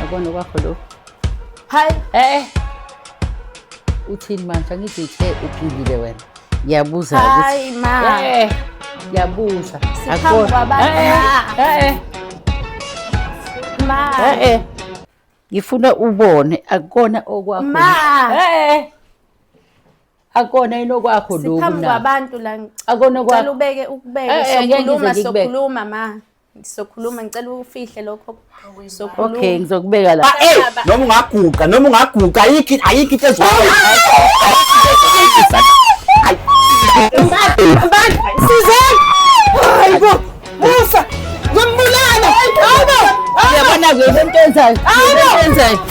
Yabona kwakho lo. Hi. Eh. eh. Uthini manje angithi uthe uphilile wena. Ngiyabuza ukuthi. Hayi ma. Eh. Ngiyabuza. Akho. Eh. Eh. eh. Ma. Eh. eh. Ngifuna ubone akukona okwakho. Ma. Eh. eh. akona yini okwakho lokhu siphambi kwabantu la akona kwakho ubeke ukubeke sokhuluma sokhuluma ma Sokhuluma ngicela ufihle lokho. Sokhuluma. Okay, ngizokubeka la. Ah, hey, noma ungaguqa, noma ungaguqa, ayikho ayikho into ezwa. Sizeni. Hayibo. Musa. Ngombulana. Hayibo. Yabona ke into enzayo. Hayibo. Enzayo.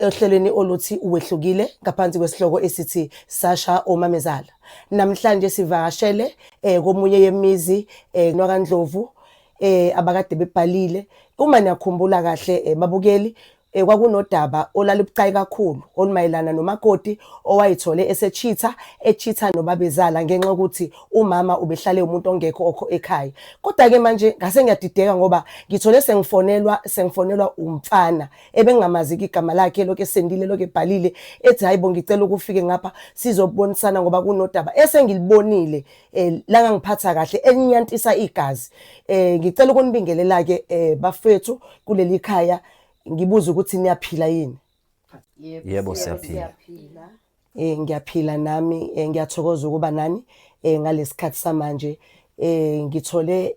ohlelweni oluthi Wehlukile ngaphansi kwesihloko esithi Sasha Omamezala. Namhlanje sivakashele eh, komunye yemizi eh, NwaKaNdlovu eh, abakade bebhalile. Uma niyakhumbula kahle eh, babukeli eh, kwakunodaba olalibucayi kakhulu olumayelana nomakoti owayethole esechitha echitha nobabezala ngenxa yokuthi umama ubehlale umuntu ongekho okho ekhaya kodwa-ke manje ngase ngiyadideka ngoba ngithole sengifonelwa sengifonelwa umfana ebengamazi-ke igama lakhe elokhu esendile elokhu ebhalile ethi hayi bo ngicela ukufike ngapha sizobonisana ngoba kunodaba esengilibonile um eh, langangiphatha kahle elinyantisa igazi um ngicela ukunibingelela-ke um bafethu kuleli khaya ngibuze ukuthi niyaphila yini yebo siyaphila um ngiyaphila nami um ngiyathokoza ukuba nani um ngalesi khathi samanje um ngithole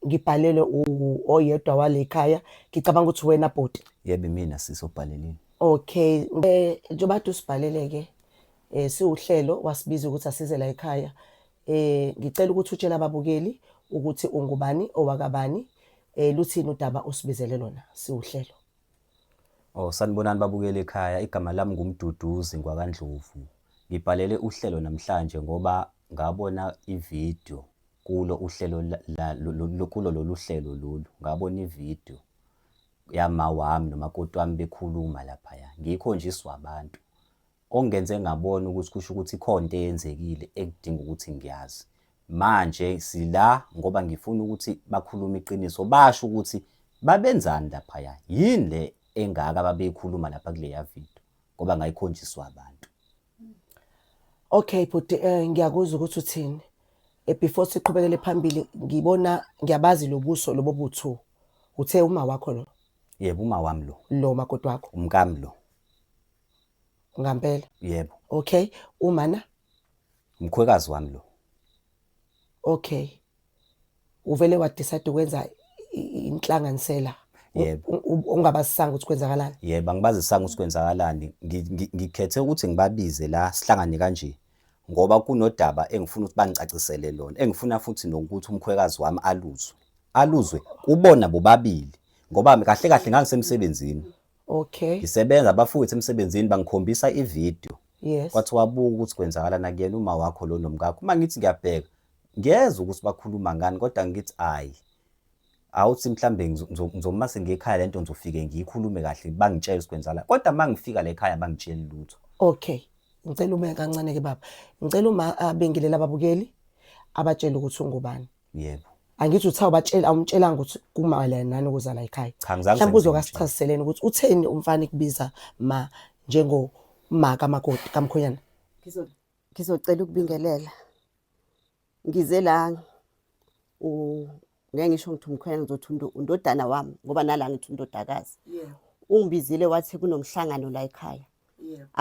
ngibhalelwe u- oyedwa wale khaya ngicabanga ukuthi wena bhuti yebo imina sisi obhalelile okay eh, njengoba kade usibhalele-ke um siwuhlelo wasibiza ukuthi asize la ekhaya um ngicela ukuthi utshele ababukeli ukuthi ungubani owakabani um luthini udaba osibizele lona siwuhlelo oh sanibonani babukele ekhaya igama lami ngumduduzi ngwakandlovu ngibhalele uhlelo namhlanje ngoba ngabona ividiyo Kulo uhlelo kulo lolu hlelo lolu ngabona ividiyo yama wami nomakoti wami bekhuluma laphaya ngikho nje iswabantu ongenze ngabona ukuthi kusho ukuthi ikhona into eyenzekile ekudinga ukuthi ngiyazi manje sila ngoba ngifuna ukuthi bakhulume iqiniso basho ukuthi babenzani laphaya yini le engaka babeyikhuluma lapha kuleya video ngoba ngayikhonjiswa abantu Okay bhuti eh, ngiyakuzwa ukuthi uthini Eh, before siqhubekele phambili ngibona ngiyabazi lobuso lobo buthu uthe uma wakho lo yebo uma wami lo lo makoti wakho umkami lo ngampela yebo okay umana umkhwekazi wami lo okay uvele wadecide ukwenza inhlanganisela ungabasisanga ukuthi kwenzakalani yebo angibazisanga ukuthi kwenzakalani ngikhethe ukuthi ngibabize la sihlangane kanje ngoba kunodaba engifuna ukuthi bangicacisele lona engifuna futhi nokuthi umkhwekazi wami aluzwe aluzwe kubona bobabili ngoba kahle kahle ngangisemsebenzini okay ngisebenza bafowethu emsebenzini bangikhombisa ivideo yes kwathi wabuka ukuthi kwenzakala nakuyena uma wakho lo nomkakho uma ngithi ngiyabheka ngiyezwa ukuthi bakhuluma ngani kodwa ngithi ayi awuthi mhlambe ngizoma sengikhaya lento ngizofike ngiyikhulume kahle bangitshela sikwenzala kodwa mangifika la ekhaya bangitshela lutho okay ngicela ume kancane ke baba ngicela uma abengilela ababukeli abatshela ukuthi ungubani yebo angithi uthawu batshela awumtshelanga ukuthi kumayelana nani ukuza la ekhaya mhlawumbe uzokasichaziseleni ukuthi utheni umfana ikubiza ma njengo ma kamakoti kamkhonyana ngizocela ukubingelela ngize la ngeke ngisho ngithi umkhwela ngizothi undodana wami ngoba nala ngithi undodakazi ungibizile wathi kunomhlangano la ekhaya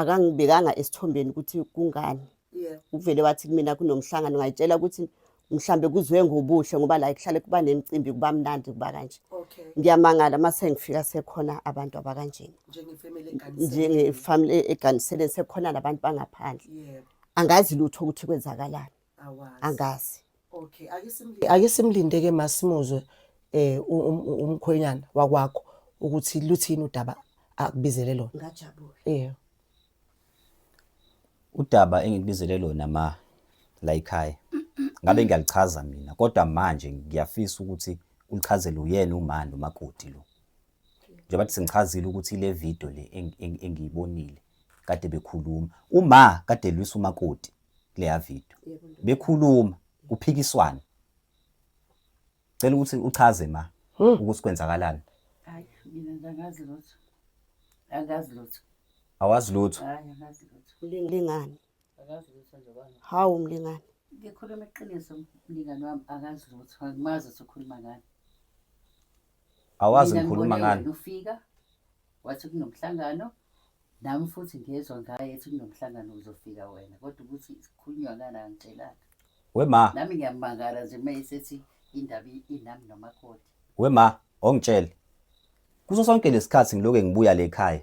akangibekanga esithombeni ukuthi kungani uvele wathi kumina kunomhlangano ngayitshela ukuthi mhlambe kuzwe ngobuhle ngoba la kuhlale kuba nemicimbi kuba mnandi kuba kanje okay ngiyamangala mase ngifika sekhona abantu abakanjena njenge family eganisele njenge family e-, eganisele sekhona labantu bangaphandle yebo angazi lutho ukuthi kwenzakalani angazi okay ayisimlinde ayisimlinde ke masimuzwe eh um-, um-, umkhwenyana wakwakho ukuthi luthini udaba akubizele lona ngajabula yebo Udaba engikubizele lona ma la ekhaya ngabe ngiyalichaza mina kodwa manje ngiyafisa ukuthi ulichazele uyena umani umakoti lo. Njengoba sengichazile ukuthi le video le engiyibonile kade bekhuluma. Uma kade elwisa umakoti kuleya video. Bekhuluma kuphikiswana. Cela ukuthi uchaze ma ukuthi kwenzakalani. Hayi mina ndangazi lutho. Angazi lutho. Awazi lutho. Hayi angazi lutho. Mlingani. Angazi lutho nje bana. Hawu mlingani. Ngikhuluma iqiniso mlingani wami angazi lutho. Angimazi ukuthi ukhuluma ngani. Awazi ngikhuluma ngani. Ufika wathi kunomhlangano nami futhi ngezwa ngaye ethi kunomhlangano uzofika wena kodwa ukuthi sikhulunywa ngani angitshelanga wema nami ngiyamangala nje uma esethi indaba i- inami nomakoti wema ongitshele kuso sonke lesikhathi ngiloke ngibuya le ekhaya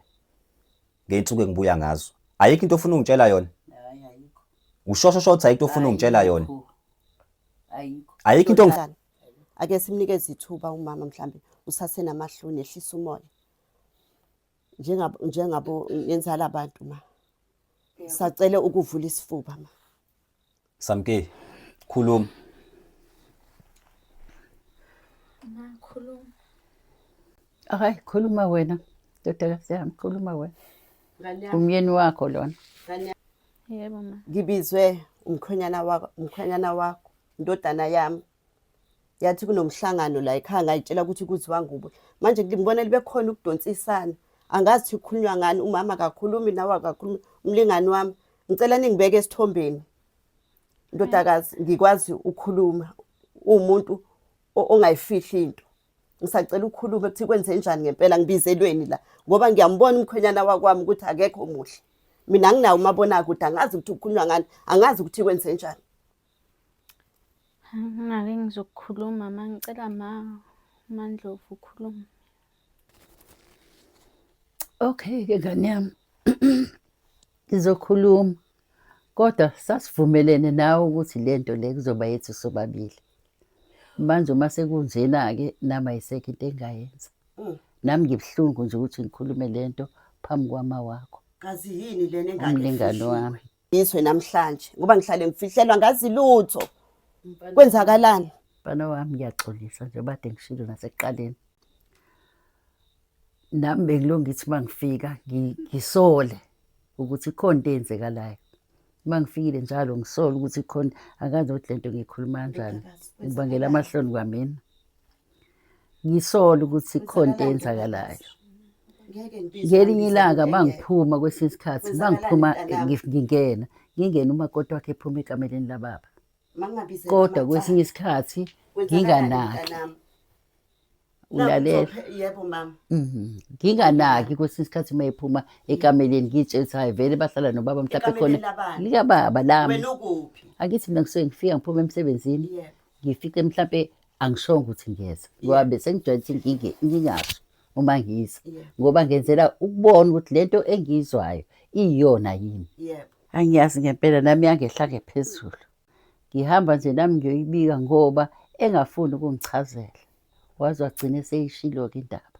ngeyinsuku engibuya ngazo ayikho into ofuna ungitshela yona hayi ayikho ushosho shotha ayikho into ofuna ungitshela yona Ayikho. ayikho ayikho into ongif- Kanjani? ake simnikeze ithuba umama mhlambe usasenamahloni ehlisa umoya njengabo njengabo ngenzala abantu ma sacele ukuvula isifuba ma samke khuluma ma khuluma hayi khuluma wena ndodakazi yami khuluma wena umyeni wakho lona yebo ma ngibizwe umkhwenyana wakho umkhwenyana wakho ndodana yami yathi kunomhlangano la ekhaya ngayitshela ukuthi kuziwa ngubo manje ngibona libekhona ukudonsisana angazi ukuthi kukhulunywa ngani umama akakhulumi nawe akakhulumi umlingani wami ngicela ningibeke esithombeni ndodakazi ngikwazi ukukhuluma uwumuntu ongayifihli into ngisacela ukukhuluma ukuthi kwenze njani ngempela ngibizelweni la ngoba ngiyambona umkhwenyana wakwami ukuthi akekho muhle mina nginawo umabonakude angazi ukuthi ukhulunywa ngani angazi ukuthi kwenze njani Ngingake ngizokukhuluma ma ngicela ma uMaNdlovu ukhulume. Okay-ke ngane yami ngizokhuluma kodwa sasivumelene nawe ukuthi le nto le kuzoba yethu sobabili. Manje uma sekunjena-ke nami ayisekho into engingayenza. Mm. Nami ngibuhlungu nje ukuthi ngikhulume le nto phambi kwama wakho, Kazi yini lena engane umlingani efihliwe? wami. ngizwe namhlanje ngoba ngihlale ngifihlelwa ngazi lutho kwenzakalani mfana wami ngiyaxolisa nje bade ngishilo nasekuqaleni nami bengilo ngithi uma ngifika ngi- ngisole ukuthi ikhona into eyenzekalayo uma ngifikile njalo ngisole ukuthi ikhona angazi ukuthi le nto ngiyikhuluma kanjani ngibangela amahloni kwamina ngisola ukuthi khona into eyenzakalayo ngelinye ilanga bangiphuma kwesinye isikhathi bangiphuma ngingena ngingena umakoti wakhe ephuma ekameleni lababa kodwa kwesinye isikhathi nginganaki ulalela yebo mama mhm. nginganaki kwesinye isikhathi uma ephuma ekameleni ngitshela ukuthi hayi vele bahlala nobaba mhlawumbe khona likababa lami angithi mina kusuke ngifika ngiphuma emsebenzini ngifike mhlawumbe angishongo ukuthi ngiyeza ngoba besengijwayele ukuthi nginge ngingasho uma ngiza Yeah. ngoba ngenzela ukubona ukuthi lento engiyizwayo iyiyona yini Yebo. angiyazi ngempela nami yangehla ngephezulu ngihamba nje nami ngiyoyibika ngoba engafuni ukungichazela waze wagcine seyishilo-ke indaba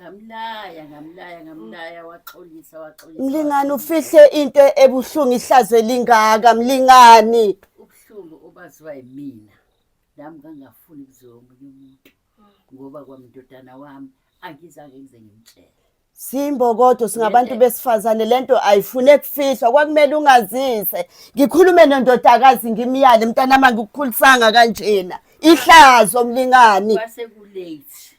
ngamlaya ngamlaya ngamlaya waxolisa waxolisa mlingani ufihle into ebuhlungu ihlaze lingaka mlingani ubuhlungu obaziwa yimina nami ngangafuni kuziwa omunye umuntu ngoba kwamndodana wami angizange ngize ngimtshele Simbokodo singabantu besifazane lento ayifune kufihlwa kwakumele ungazise ngikhulume nondodakazi ngimyale mntana mangikukhulisanga kanjena ihlazo mlingani kwase ku late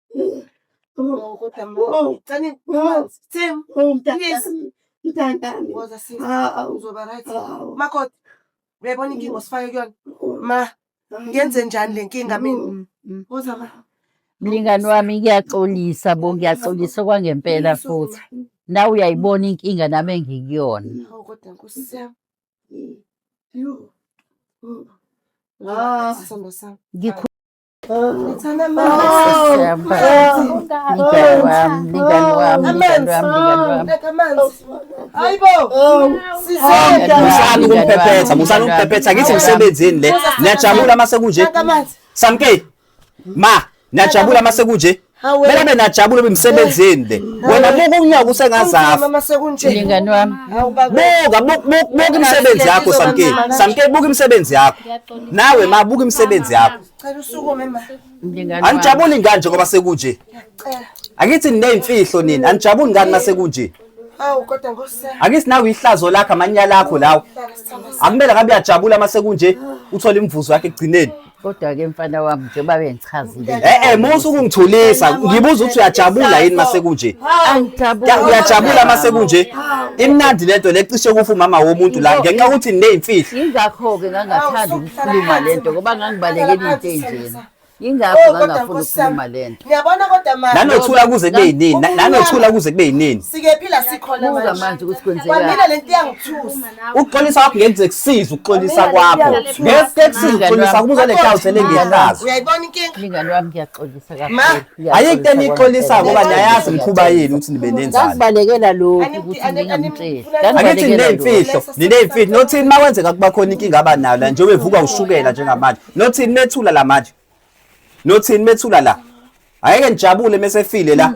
uyabona inkinga osifake kuyona ma ngenze njani le nkinga mina mm, mm, mm. mlingani wami kuyaxolisa bo ngiyaxolisa kwangempela futhi nawe uyayibona inkinga nami engikuyona Ah, musani ukumpephetha musani ukumpephetha ngithi msebenzini le niyajabula uma sekunje samke ma niyajabula uma sekunje Hawe. Mele abe najabule bimsebenzini le. Wena buka unyaka usengazafa. Mama sekunje. Mlingani wami. Hawu baba. Buka buka buka- buka imisebenzi yakho Samkeli. Samkeli buka imisebenzi yakho. Nawe ma buka imisebenzi yakho. Cela usukume ma. Mlingani wami. Anijabuli ngani njengoba sekunje? Cela. Angithi nineyimfihlo nini? Anijabuli ngani masekunje? Hawu kodwa Nkosi yami. Angithi nawe ihlazo lakho amanyala akho lawo. Hlala sithanda Akumele ngabe uyajabula masekunje uthola imivuzo yakhe ekugcineni. kodwa ke mfana wami njengoba bengichazile Eh eh musu kungithulisa ngibuza ukuthi uyajabula yini mase kunje Ya, uyajabula mase kunje imnandi lento lecishe kufa umama womuntu la ngenxa yokuthi nineyimfihlo yingakho-ke ngangathandi ukukhuluma le nto ngoba ngangibalekela into enjena yingakho Oh, kodwa ngangafuni Nkosi yami. ukukhuluma le nto Ngiyabona kodwa manje. nanothula kuze kube yinini Na- nanothula kuze kube yinini Sikephi la sikhona buka manje manje ukuthi kwenzekani Kwamina lento iyangithusa. ukuxolisa kwakho ngeke kusize ukuxolisa kwakho ngeke kusize ukuxolisa kuba uzolethela uthele ngehlazo uyayibona inkinga mngani wami ngiyaxolisa kakhulu ayike into enixolisa ngoba niyayazi mkhuba yenu ukuthi nibe nenzalo ngasibalekela lokhu ukuthi ngingamtsheli angithi nineyimfihlo nineyimfihlo nothini uma kwenzeka kuba khona inkinga aba nayo la njengoba evuka ushukela njengamanje nothini methula la manje nothini methula la ayeke nijabule mesefile la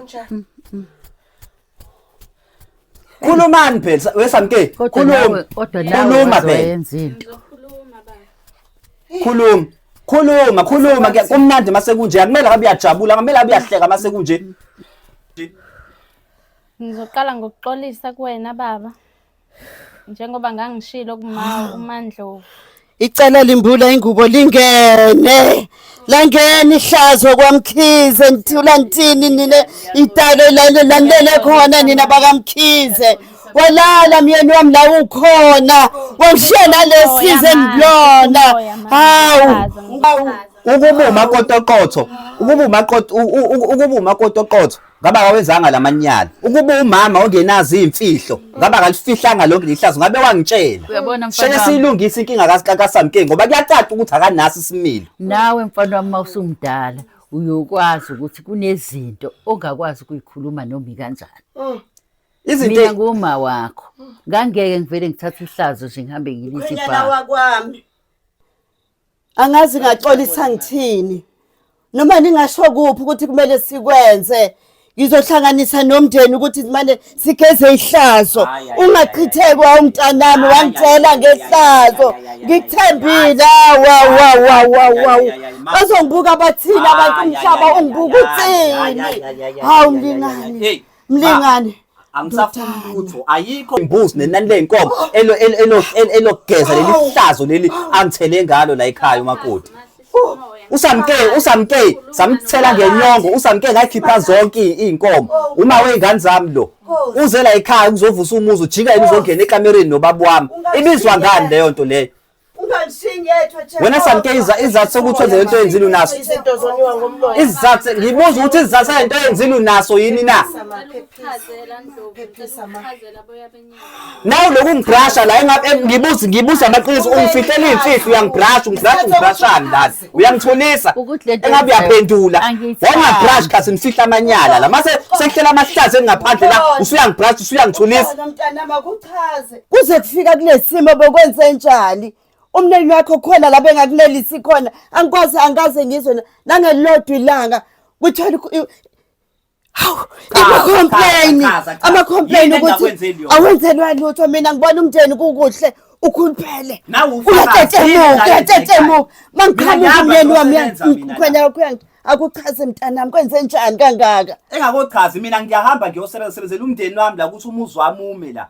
Khulumani phela wesamke. Kodwa Khuluma. nawe kodwa nawe Khuluma waze phela. wayenza into. Ngizokhuluma baba. Khuluma. Khuluma, khuluma ke kumnandi mase kunje. Akumele ngabe uyajabula, akumele abe uyahleka mase kunje. Ngizoqala ngokuxolisa kuwena baba. njengoba ngangishilo kuma uMandlovu icala limbula ingubo lingene langena ihlazo kwamkhize ngithula ngithini nina italo lale landele khona nina bakamkhize walala myeni wami la ukhona wamshiya nalesize ngilona hawu ukuba umakotokotho ukuba umakotokotho ukuba umakotokotho ngaba kawenzanga lamanyala ukuba umama ongenazi imfihlo ngaba kalifihlanga lonke lihlazo ngabe wangitshela uyabona mfana sheke siyilungisa inkinga kaSamke ngoba kuyacaca ukuthi akanasi isimilo nawe mfana wami mawusumdala uyokwazi ukuthi kunezinto ongakwazi ukuyikhuluma nomi kanjani oh. izinto mina nguma wakho ngangeke ngivele ngithathe ihlazo nje ngihambe ngilise ibha wakwami angazi ngaxolisa ngithini noma ningasho kuphi ukuthi kumele sikwenze ngizohlanganisa nomndeni ukuthi manje sigeze ihlazo ungachithekwa umntanami wangitshela ngehlazo ngikuthembile wawawawawaw bazongibuka bathini abantu umhlaba ungibuka uthini hawu mlingani Mlingane. angisafuni lutho ayikho imbuzi nenani lenkomo elo elo elo- elo- elogeza leli hlazo leli angithele ngalo la ekhaya umakoti usamke usamke samthela ngenyongo usamke ngayikhipha zonke i- iy'nkomo uma wey'ngane zami lo uze la ekhaya kuzovusa umuzi ujika yini uzongena ekamereni nobaba wami ibizwa ngani leyo nto leyo wena samke izathu sokuthi wenze lento yenzile unaso izathu ngibuza ukuthi izathu lento yenzile unaso yini na nawe lokhu ngibrasha la ngibuza ngibuza amaqiniso ungifihlela iy'mfihlo uyangibrasha ungibrasha ungibrashani lana uyangithulisa engabe uyaphendula wawungabrashi khathi ngifihla amanyala la mase sekuhlela amahlazi engingaphandle la usuyangibrasha usuyangithulisa kuze kufika kulesimo bokwenzenjani umneni wakho khona la bengakunelisi khona angikwazi angikaze ngizwe nangelilodwa ilanga kuthola hawu ama-complaini ama-complaini ukuthi awenzelwa lutho mina ngibona umndeni kukuhle ukhuluphele uyatetemuka uyatetemuka ma ngiqhamuka umyeni wami khona kuyangitha akuchaze mntanami kwenze njani kangaka engakochazi mina ngiyahamba ngiyosebenzisebenzela umndeni wami la ukuthi umuzi wami ume la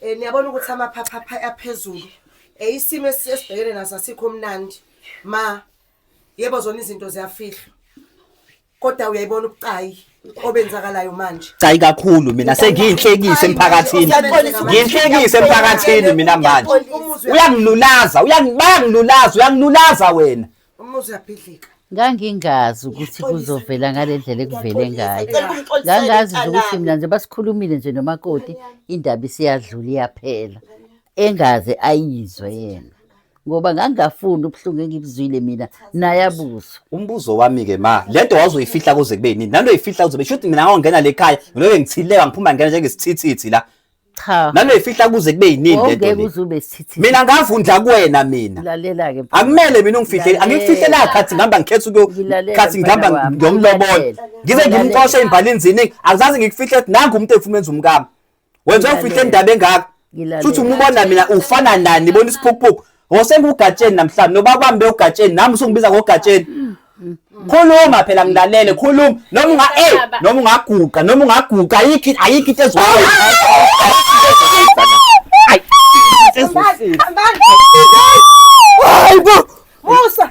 Eh niyabona ukuthi amaphapha aphezulu. Eh isimo esibhekene naso asikho mnandi. Ma yebo zona izinto ziyafihlwa. Kodwa uyayibona ubucayi obenzakalayo manje. Cayi kakhulu mina sengiyinhlekise emphakathini. Ngiyinhlekise emphakathini mina manje. Uyangilulaza, uyangibangilulaza, uyangilulaza wena. umuzi uyabhidlika ngangingazi ukuthi kuzovela ngale ndlela ekuvele ngayo ngangazi nje ukuthi mina nje basikhulumile nje nomakoti indaba isiyadlula iyaphela engaze ayizwe yena ngoba ngangingafuni ubuhlungu engibuzwile mina naye abuzwe umbuzo wami-ke ma le nto wazoyifihla kuze kube nini nanto oyifihla kuze kube shuthi mina ngangongena le khaya ngiloke ngithileka ngiphuma ngena njengesithithithi la Cha. Nanoyifihla kuze kube yinini lento Ngeke le. uze ube sithithiza. Mina ngavundla kuwena mina. Lalela ke. mfana. Akumele mina ungifihle. Lalela. Angikufihle la khathi ngihamba ngikhetha ukuyo Ngilalela, khathi mfana ngihamba wami. ngiyomlobola. Ngilalela. Ngize Ngilalela. ngimxoshe imbali inzini. Akuzazi ngikufihle ukuthi nangu umuntu efuna enza umkami. Wenza ufihle Ngilalela. indaba engaka. Ngilalela. Futhi umubona mina ufana nani bona isiphukuphuku. Ngosengugatsheni namhlanje nobakwami bewugatsheni nami usungibiza ngogatsheni. Khuluma phela ngilalele khuluma noma unga eh noma ungaguqa noma ungaguqa ayikho ayikho into ezwayo. Hayi bo. Musa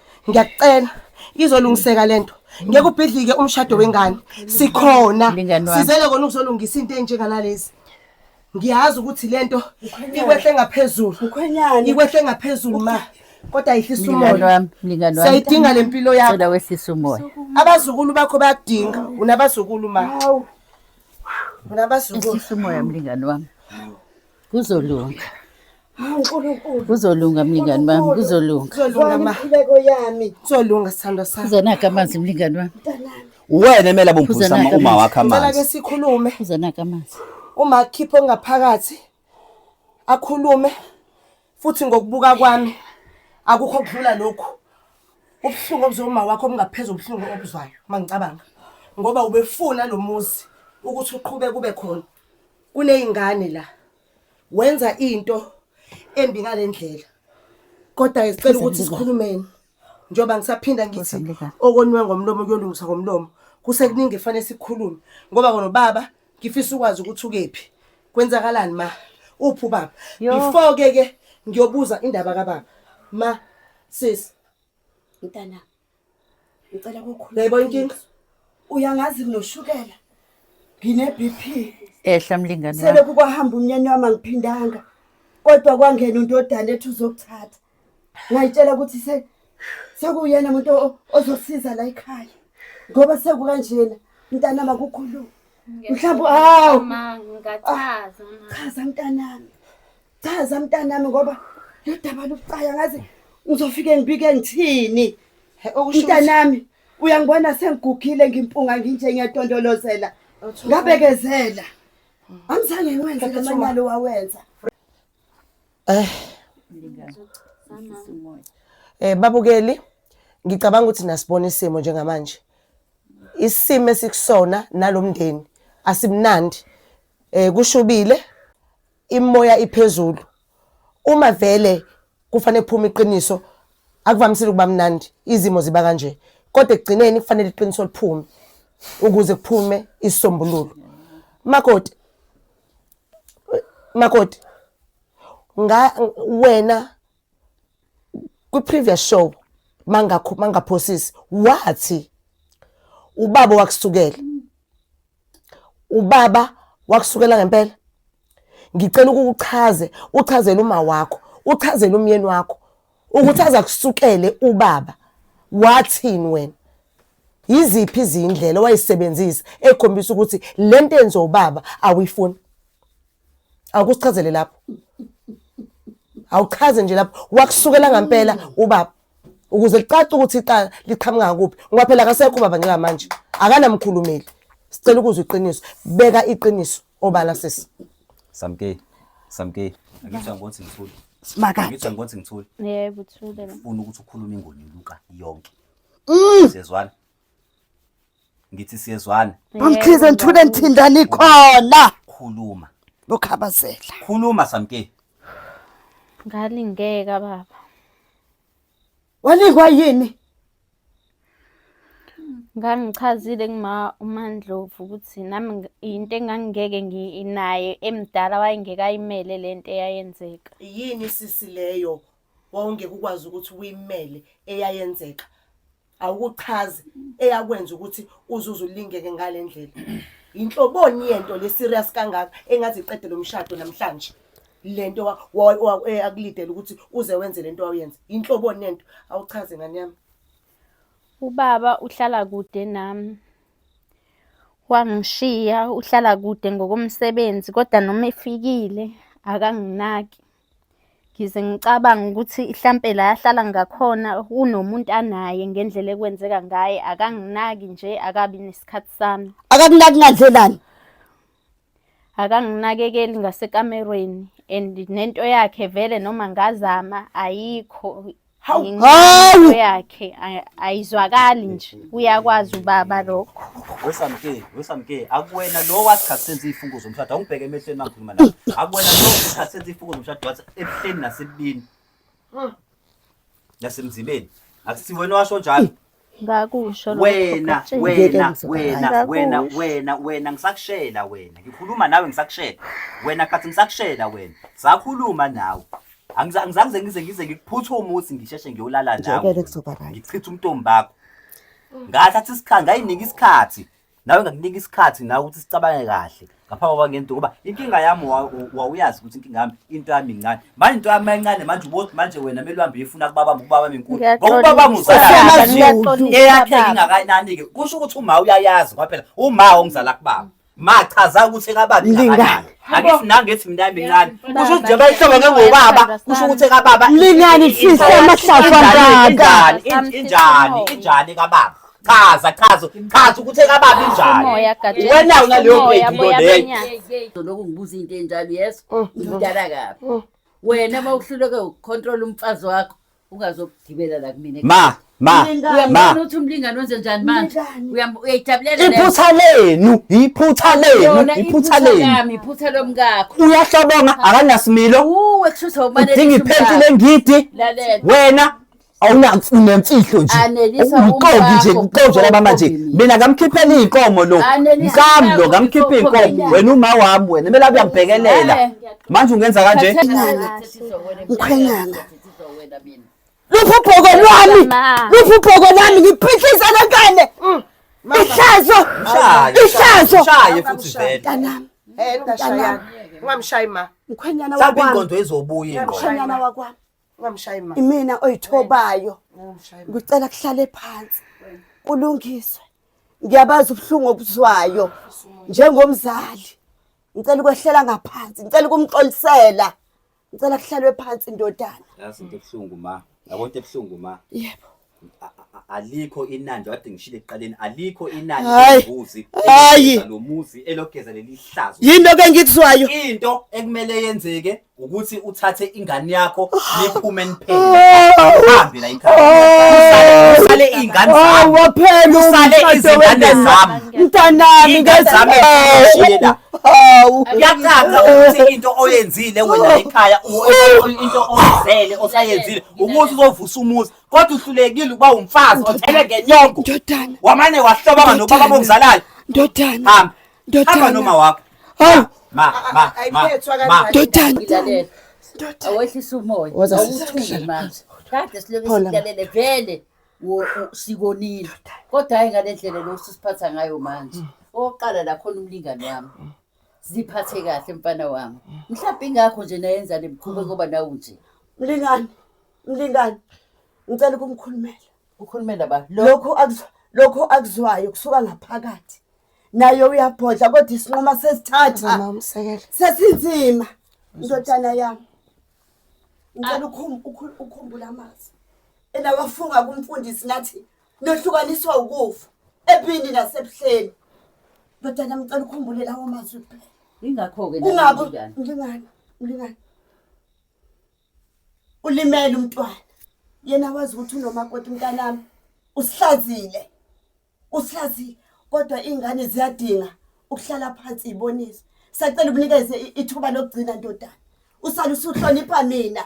ngiyakucela izolungiseka lento ngeke ubhidlike umshado wengane sikhona sizele kona ukuzolungisa into enjenganalezi ngiyazi ukuthi lento ikwehle ngaphezulu ikwehle ngaphezulu ma kodwa yehlisa umoya siyayidinga le mpilo yakho wehlisa umoya abazukulu bakho bayakudinga unabazukulu ma unabazukulu umoya mlingane wami Kuzolunga. Hawu uNkulunkulu. Kuzolunga mlingani wami, kuzolunga. Kuzolunga ma. Inkuleko yami. Kuzolunga sithandwa sami. Kuzonaka amanzi mlingani wami. Uwena emele abomphuzisa ama- uma wakhe Ngicela amanzi. ke sikhulume. Kuzonaka amanzi. Uma akhiphe ongaphakathi akhulume futhi ngokubuka kwami akukho kudlula lokhu. Ubuhlungu obuzoma wakho obungaphezu obuhlungu obuzwayo mangicabanga ngoba ubefuna lo muzi ukuthi uqhube kube khona. kuneyingane la wenza into embi ngalendlela kodwa ke sicela ukuthi sikhulumeni njengoba ngisaphinda ngithi okonwe ngomlomo kuyolungiswa ngomlomo kusekuningi efanele sikhulume ngoba kona baba ngifisa ukwazi ukuthi ukephi kwenzakalani ma uphi ubaba Yo. before ke ke ngiyobuza indaba kababa ma sis mntanami ngicela kokhulu yebo inkinga uyangazi nginoshukela ngine BP ehla mlingane sele kukwahamba umnyeni wami angiphindanga kodwa kwangena undodana ethi uzokuthatha ngayitshela ukuthi se sekuyena umuntu ozosiza la ekhaya ngoba sekukanjena mntanami akukhulumi mhlawumbe hawu ah, chaza mntanami Chaza mntanami ngoba lodaba lokucaya ngazi ngizofike ngibike ngithini. Mntanami uyangibona sengigugile ngimpunga nginje ngiyatondolozela. Ngabekezela. Angizange ngiwenze lomanyalo wawenza. Eh. Eh babukeli ngicabanga ukuthi nasibona isimo njengamanje. Isimo esikusona nalomndeni asimnandi. Eh kushubile Imoya iphezulu. Uma vele kufanele kuphume iqiniso akuvamisile ukuba mnandi izimo ziba kanje kodwa ekugcineni kufanele iqiniso liphume ukuze kuphume isisombululo makoti makoti nga wena kwi previous show mangakho mangaphosisi wathi ubaba wakusukela ubaba wakusukela ngempela ngicela ukukuchaze uchazele uma wakho uchazele umyeni wakho ukuthi aza kusukele ubaba wathini wena yiziphi izindlela wayisebenzisa ekhombisa ukuthi le nto enze ubaba awuyifuni awukusichazele lapho awuchaze nje lapho wakusukela ngampela ubaba ukuze licace ukuthi iqala liqhamuka kuphi ngoba phela akasekho ubaba njengamanje akanamkhulumeli sicela ukuzwa iqiniso beka iqiniso obala sisi samke samke ngitshela ukuthi ngithule simakade ngitshela ukuthi ngithule yebo thule la ufuna ukuthi ukhulume ingoni luka yonke mm. sezwana ngithi siyezwana Bamkhize ngithule ngithindani khona. khuluma Lokhabazela. khuluma samkeni Ngalingeka baba. Walingwa yini? Ngangichazile kuma uMandlovu ukuthi nami ngi- yinto engangingeke nginaye emdala wayengeke ayimele lento eyayenzeka. yini sisi leyo wawungeke ukwazi ukuthi uyimele eyayenzeka awukuchazi eyakwenza ukuthi uzuze ulingeke ngale ndlela yinhloboni yento le-serious kangaka engaze iqede lo mshado namhlanje le nto wa- wa- wa- eh, akulidele ukuthi uze wenze le nto wawuyenza yinhloboni yento awuchaze ngane yami Ubaba uhlala kude nami. Wangishiya uhlala kude ngokomsebenzi kodwa noma efikile akanginaki. Ngize ngicabanga ukuthi hlampe la yahlala ngakhona unomuntu anaye ngendlela ekwenzeka ngaye akanginaki nje akabi nesikhathi sami akakunaki ngandlelani akanginakekeli ngasekamerweni and nento yakhe vele noma ngazama ayikho Hawu. Ngenxa yakhe ay- ayizwakali nje uyakwazi ubaba lokho wesamke wesamke akuwena lo wathi khathi senza iy'fungo zomshado awungibheke emehlweni mangikhuluma nawe akuwena lo wathi khathi senza iy'fungo zomshado wathi ebuhleni nasebubini nasemzibeni akusiwena owasho njalo Ngakusho lokho wena Gatsheni. wena Ngeke wena ngizokwazi. wena Ngakusho. wena wena ngisakushela wena ngikhuluma nawe ngisakushela wena khathi ngisakushela wena sakhuluma nawe Angiza- angizange ngize ngize ngikuphuthe umuthi ngisheshe ngiyolala nawe Ngeke kuzoba right. ngichithe umntombi bakho ngathatha isikhathi ngayinika isikhathi nawe ngakunika isikhathi nawe ukuthi sicabange kahle ngaphambi kwaba ngento ngoba inkinga yami wawuyazi ukuthi inkinga yami into yami incane manje into yami mayincane manje ubothi manje wena mele uhambe uyifuna kubaba ubaba menkulu ngoba ubaba muzalayo eyakheke ingakanani-ke kusho ukuthi uma uyayazi kwaphela uma ongizala kubaba machaza ukuthi kababa ingakanani angithi nangethi mina mincane kusho ukuthi njengoba ihlobo ke ngobaba kusho ukuthi kababa mlingani fisa amahlafu angaka injani injani kababa chaza chaza chaza ukuthi ekababi njani wena unaleyo grade into leyo lokhu ngibuza into enjalo yes mm. ngidala kabi mm. wena uma uhluleke ukucontrol umfazi wakho ungazokugibela la kumina ma ma ma uthi umlingani wenze njani manje uyayijabulela iphutha lenu iphutha lenu iphutha lenu iphutha lomkakho uyahlobonga akanasimilo uwe kushuthi awubalekile udinga iphenti lengidi wena awunemfihlo nje Anelisa uqoki nje umkakho, uqoki laba mama nje uqoki mina. mina ngamkhiphela iy'nkomo lo Anelisa mkami lo umkakho, ngamkhipha uqoki iy'nkomo mina. wena uma wami wena kumele abe uyambhekelela Eh. manje ungenza kanje Ukhwenyana. luphi ubhoko lwami Ma. luphi ubhoko lwami ngiphihlisa lengane ihlazo Mshaye, ihlazo mshaye futhi vele mntanami Hey, Tasha yami. Ungamshayi ma. mkhwenyana mhlawumbe wakwami ingqondo ezobuya ingqondo mkhwenyana wakwami Ungamshayi mama. Imina oyithobayo. Ungamshayi. Ngicela kuhlale phansi. Kulungiswe. Ngiyabazi ubuhlungu obuzwayo njengomzali. Ngicela ukwehlela ngaphansi. Ngicela ukumxolisela. Ngicela kuhlalwe phansi indodana. Yazi into ebuhlungu ma. Yabona into ebuhlungu ma. Yebo. alikho inani nje kade ngishilo ekuqaleni alikho inani Hayi. lombuzi Hayi. elogeza lo muzi elogeza leli hlazo yinto ke engikuzwayo into ekumele yenzeke ukuthi uthathe ingane yakho niphume niphele uhambe la ikhaya Usale- usale iy'ngane hawu zami waphela Usale umshado izingane wengane- zami. mntanami Ingane zami ezishiye la. hawu kuyacaca ukuthi into oyenzile wena ekhaya u- u- into oyizele osayenzile umuzi uzovusa umuzi kodwa uhlulekile ukuba umfazi othele ngenyongo ndodana wamane wahlobanga nobaba bomzalala ndodana hamba ndodana hamba noma wakho hawu ma ma ma ma ndodana awehlisa umoya awuthunge manje kade silobe silalele vele sikonile kodwa hayi ngale ndlela lo susiphatha ngayo manje mm. oqala la khona umlingane wami mm. ziphathe kahle mfana wami mhlawumbe ingakho nje nayenza le mkhuba ngoba nawu nje mlingani mlingani ngicela ukumkhulumela ukhulumela ba lo lokhu akuzwa lokhu akuzwayo kusuka ngaphakathi naye uyabhodla kodwa isinqoma sesithatha Mama umsekele. sesinzima ndodana yami ngicela ukhum- ukhu- ukhumbule amazi elawafunga kumfundisi nathi Nohlukaniswa ukufa ebini nasebuhleni. Ndodana ngicela ukhumbule lawo mazwi kuphela. Ingakho-ke Kungabi njani? mlingana, mlingana. Ulimele umntwana. Yena wazi ukuthi unomakoti mntanami. Usihlazile. Usihlazile kodwa ingane ziyadinga ukuhlala phansi ibonise. Sacela ubunikeze i- ithuba lokugcina ndodana. Usale usuhlonipha mina.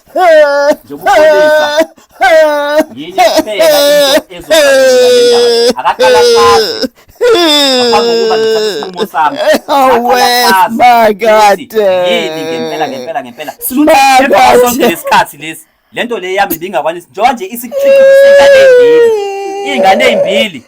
njengokubolisa yinye kuphela into ezokuba akaqalafazi ngaphambi kokuba ngithathe isinqumo sami awesmakade yini ngempela ngempela ngempela silunasonke lesikhathi lesi lento le yami bingakwanisi njengoba nje isikhiqizisa ingane ezimbili ingane ezimbili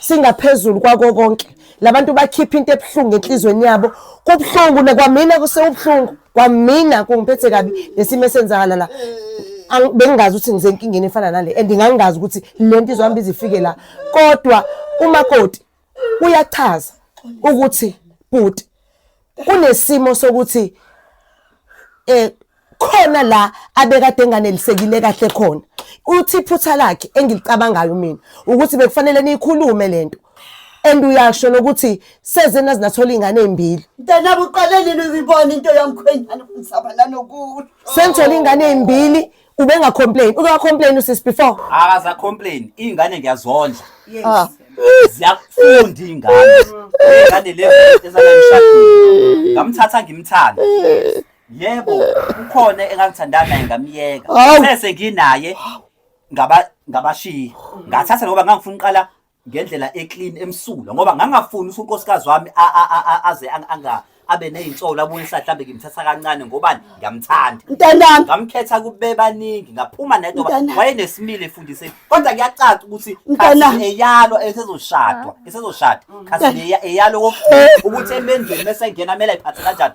Singaphezulu kwako konke labantu bakhipha into ebuhlungu enhlizweni yabo kubuhlungu nakwamina kusewubuhlungu kwamina kungiphethe kabi nesimo esenzakala la bengingazi ukuthi ngisenkingeni efana nale and ngangingazi ukuthi le nto izohamba izifike la kodwa umakoti uyachaza ukuthi bhuti kunesimo sokuthi eh khona la abekade enganelisekile kahle khona uthi iphutha lakhe engilicabangayo mina ukuthi bekufanele niyikhulume lento and uyasho nokuthi sezena zinathola ingane ezimbili mntanabo uqale nini uyibona into yamkhwenyana kumsabalano kulo sengithola ingane ezimbili ubenga complain uke wa complain usisi before akaza complain ingane ngiyazondla yes ah. ziyakufunda ingane ingane le ezalanishadile ngamthatha ngimthanda yebo ukhona engangithandana naye ngamyeka sese nginaye ngaba ngabashiya ngathatha ngoba ngangifuna uqala ngendlela eclean emsulwa ngoba ngangafuni ukuthi unkosikazi wami aze anga abe nezinsolo abuye esathi mhlambe ngimthatha kancane ngobani ngiyamthanda mntanami ngamkhetha kubebaningi ngaphuma nedo wayenesimile efundise kodwa kuyacaca ukuthi mntanami eyalo esezoshadwa esezoshada khasi eyalo ukuthi emendweni bese ngena mele ayiphathe kanjani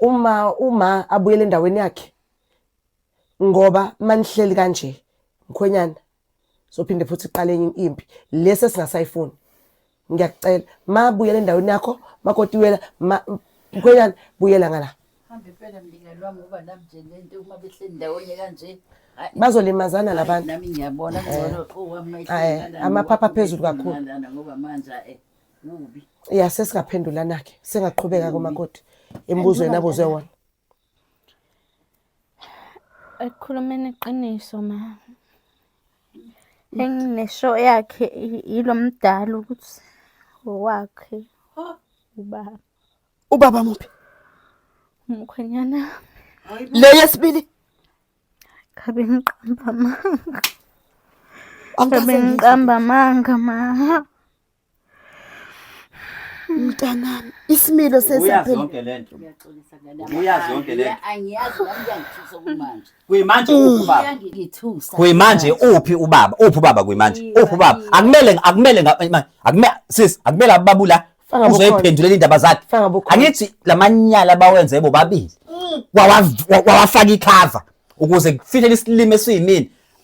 uma uma abuyele endaweni yakhe ngoba manihleli kanje mkhwenyana sophinde futhi iqale enye impi lesi esingasayifuni ngiyakucela ma buyela endaweni yakho makoti wela mkhwenyana buyela ngala hambe phela mlingani wami ngoba nami nje lento uma behleli ndawonye kanje bazolimazana labantu nami ngiyabona ngcono owami amaphapha phezulu kakhulu ngoba manje eh kubi ya sesingaphendulana ke singaqhubeka komakoti embuzweni abuzwe wona ekukhulumeni iqiniso ma enginesho yakhe yilo mdala ukuthi wakhe ubaba ubaba muphi umkhwenyana le yesibili ngabe ngiqamba amanga ngabe ngiqamba amanga ma mntanami isimilo sesiyazonke lento uyazonke lento angiyazi nami kuyangithusa kumanje kuyimanje mm. uphi baba ngithusa kuyimanje uphi ubaba uphi ubaba kuyimanje uphi ubaba akumele akumele akumele sis akumele ababula uzoyiphendulela indaba zakhe angithi lamanyala bawenze bobabili mm. wawafaka ikhava ukuze kufihlele isilimo esiyimini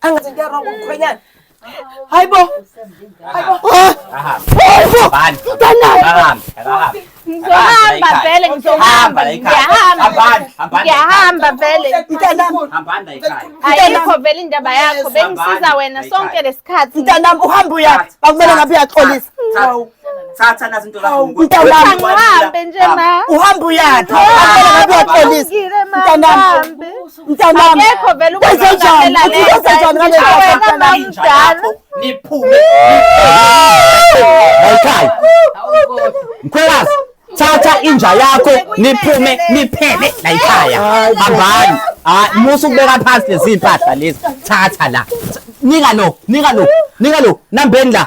Angathi into wrong umkhwenyana. Hayibo. Hayibo. Hayibo. Bani. Utanayo. Akahambe. Akahambe. Ngizohamba vele ngizohamba. Ngiyahamba. Ngiyahamba vele. Mntanami. Hambani la ikhaya. Ayikho vele indaba yakho. Bengisiza wena sonke lesikhathi. Mntanami uhamba uyathi. Bakumele ngabe uyaxolisa. Hawu. thatha nazi into zakho mntanami nje ma uhamba uyaphi abapolisi mntanami mntanami akekho vele ukuzenzela lento niphume hayikhaya mkhwelazi thatha inja yakho niphume niphele la ikhaya hambani hayi musa ukubeka phansi lezi mpahla lezi thatha la nika lo nika lo nika lo nambeni la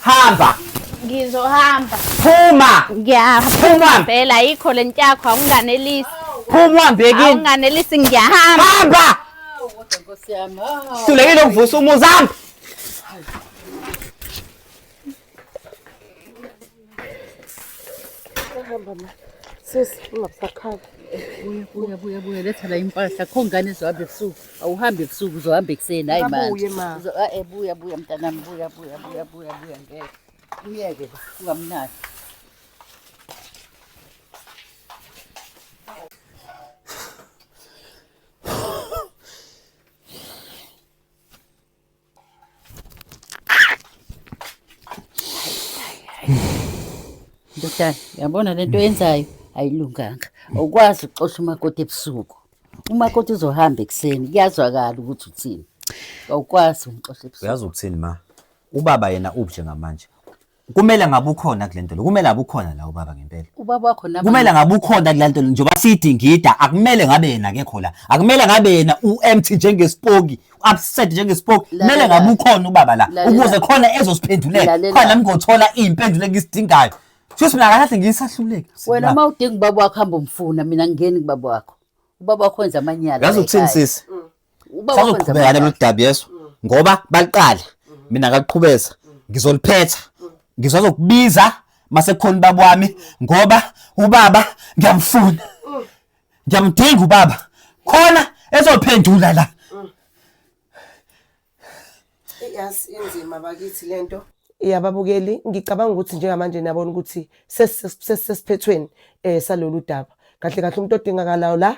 hamba ngizohamba phuma ngiyaphuma phela yikho le ntyakho awunganelisi phuma uhambe kini awunganelisi ngiyahamba hamba hlulekile ukuvusa umuzi hamba Hamba ma. Sisi ungasakhali. Buya buya buya buya letha la impahla kho ngane zohamba ebusuku. Awuhambi ebusuku uzohamba ekuseni hayi manje. Abuye ma. Eh buya buya mntanami buya buya buya buya buya ngeke. Uyeke ba ungamnaki. Ndodana, yabona le nto yenzayo ayilunganga. Awukwazi ukuxosha umakoti ebusuku. Umakoti uzohamba ekuseni, kuyazwakala ukuthi uthini. Awukwazi umxosha ebusuku. Uyazi ukuthini ma? Ubaba yena uphi njengamanje? kumele ngabe ukhona kule nto le kumele ngabe ukhona la ubaba ngempela ubaba wakho naba kumele ngabe ukhona kule nto le njengoba sithi ngida akumele ngabe yena akekho la akumele ngabe yena u-empty njengesipoki upset njengesipoki Lalela. kumele ngabe ukhona ubaba la Lalela. ukuze khona ezosiphendulela Lalela. khona nami ngothola iy'mpendulo engizidingayo shuthi mina kakahle ngiyisahluleki wena uma udinga ubaba wakho hamba umfuna mina ngingeni kubaba wakho ubaba wakho wenza amanyala yazi ukuthini ekhaya. sisi sazoqhubeka nalolu daba yeso mm. ngoba baliqala mm. mina ngaqhubeza mm. ngizoliphetha ngizozokubiza masekhona ubaba wami ngoba ubaba ngiyamfuna ngiyamdinga ubaba khona ezophendula la yazi inzima bakithi lento yababukeli ngicabanga ukuthi njengamanje niyabona ukuthi sesiphethweni um salolu daba kahle kahle umuntu odingakalayo la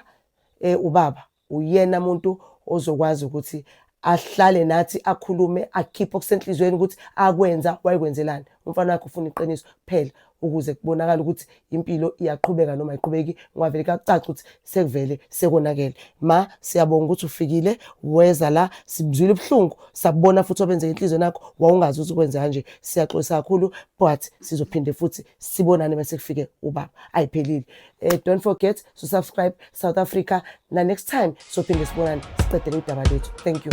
um ubaba uyena muntu ozokwazi ukuthi ahlale nathi akhulume akhiphe okusenhliziyweni ukuthi akwenza wayekwenzelani umfana wakhe ufuna iqiniso kuphela ukuze kubonakale ukuthi impilo iyaqhubeka noma ayiqhubeki ngwavele kakucaca ukuthi sekuvele sekonakele ma siyabonga ukuthi ufikile weza la sibuzwile ubuhlungu sabona futhi obenzeka inhliziyo nakho wawungazi ukuthi ukwenze kanje siyaxolisa kakhulu but sizophinde futhi sibonane bese kufike ubaba ayiphelile eh, don't forget to subscribe south africa na next time sophinde sibonane siqedele udaba lethu thank you